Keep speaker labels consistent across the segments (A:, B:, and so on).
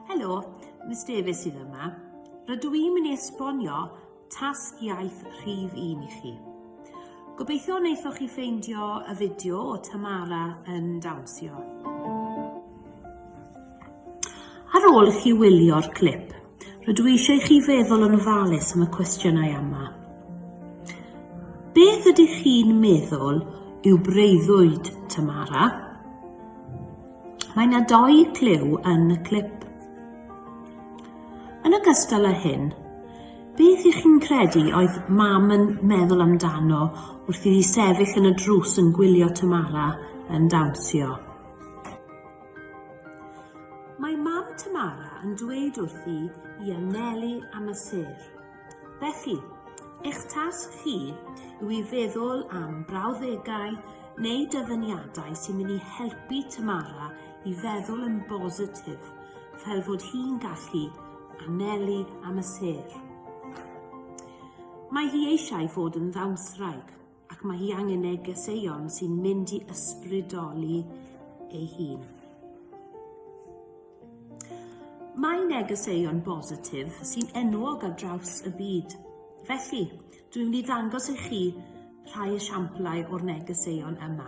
A: Helo, Miss Davies sydd yma. Rydw i'n mynd i esbonio tasg iaith rhif un i chi. Gobeithio wnaethoch chi ffeindio y fideo o Tamara yn dawnsio. Ar ôl i chi wylio'r clip, Rydw i eisiau i chi feddwl yn ofalus am y cwestiynau yma. Beth ydych chi'n meddwl yw breuddwyd Tamara? Mae yna doi clyw yn y clip. Yn ogystal â hyn, beth ych chi'n credu oedd mam yn meddwl amdano wrth iddi sefyll yn y drws yn gwylio Tamara yn dawnsio? Mae mam Tamara yn dweud wrthi i anelu am y sêr. Felly, eich tasg chi yw i feddwl am brawddegau neu dyfyniadau sy'n mynd i helpu Tamara i feddwl yn bositif fel fod hi'n gallu anelu am y sêr. Mae hi eisiau fod yn ddawnswraig. ac mae hi angen negeseuon sy'n mynd i ysbrydoli ei hun. Mae negeseuon bositif sy'n enwog ar draws y byd. Felly, dwi'n mynd i ddangos i chi rhai esiamplau o'r negeseuon yma.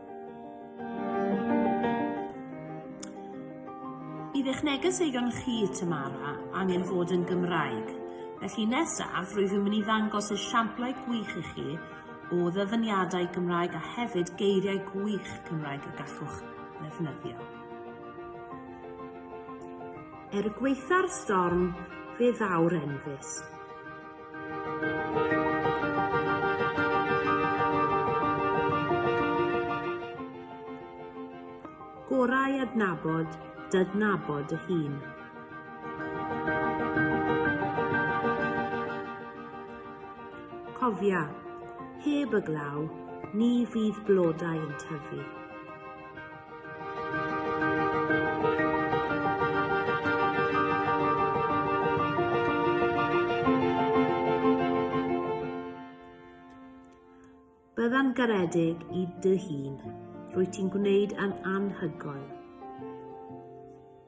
A: Bydd eich neges eigon chi, Tamara, angen fod yn Gymraeg. Felly nesaf, rwyf yn mynd i ddangos esiamplau gwych i chi o ddyfyniadau Gymraeg a hefyd geiriau gwych Cymraeg y gallwch ddefnyddio. Er gweitha'r storm, fe ddaw'r enfys. Gorau adnabod d'adnabod dy hun. Cofia, heb y glaw, ni fydd blodau yn tyfu. Bydda'n garedig i dy hun. Rwyt ti'n gwneud yn anhygoel.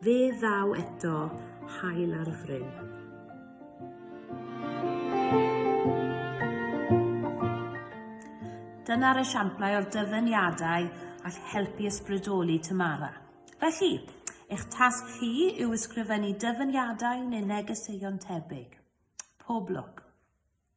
A: Fe ddaw eto haul ar fryn. Dyna'r esiamplau o'r dyfyniadau all helpu ysbrydoli Tamara. Felly, eich tasg chi yw ysgrifennu dyfyniadau neu negeseuon tebyg. Pob lwc!